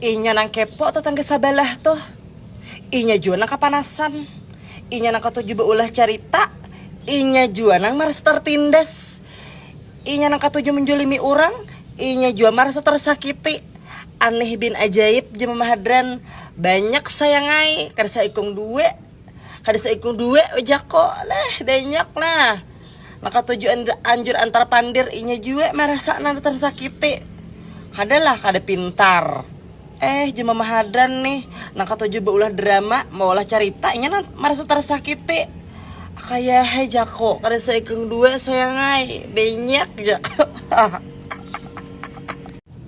Inya nang kepo tatangga sabalah tuh. Inya jua nang kapanasan. Inya nang katuju baulah carita. Inya jua nang marasa tartindas. Inya nang katuju manjolimi urang. Inya jua marasa tarsakiti. Aneh bin ajaib jar Mama Hadran. Banyak sayang ai, kada saikung dua. Kada saikung dua ujakku. Nah, banyak nah. Maka tujuan anjur antar pandir inya jua marasa nang tarsakiti. Kada lah kada pintar. Eh jua mamahadan nih nang katuju baulah drama, maulah carita inya nang marasa tarsakiti. Akayahe jaku, kada saikung dua sayang ai, banyak jaku.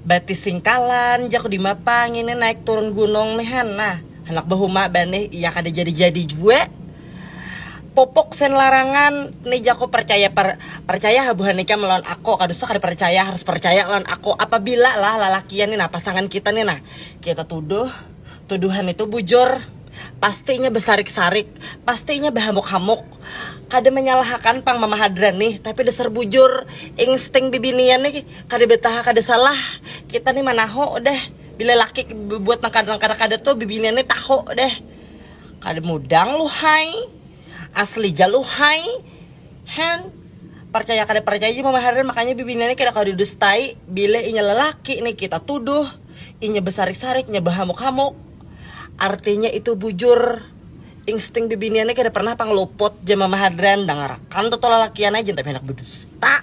Batis singkalan jaku dimapa ngini naik turun gunung nih han nah handak bahuma banih iya kada jadi-jadi jua. Pupuk sen larangan ni jako percaya per percaya ha buhan ikam lawan ako ka dusta kada percaya harus percaya lawan ako apabila lah lalakian ni nah pasangan kita ni nah kita tuduh tuduhan itu bujur pasti inya besarik sarik pasti inya behamuk hamuk kada menyalahakan pang mama hadran ni tapi dasar bujur insting bibinian ni kada betaha kada salah kita ni manaho deh bila laki bebuat nang kada nang kada kada tu bibinian ni taho deh. Kada mudang luhai, asli ja luhai, hen. Parcaya kada parcaya ja mama Herdan makanya bibinian ni kada kawa didustai, bilih inya lelaki ni kita tuduh, inya besarik-sarik, inya behamuk-hamuk, artinya itu bujur, insting bibinian ni kada pernah pang luput ja mama Herdan, dangarakan tuh tulalakian ai jantan pihanak bedusta.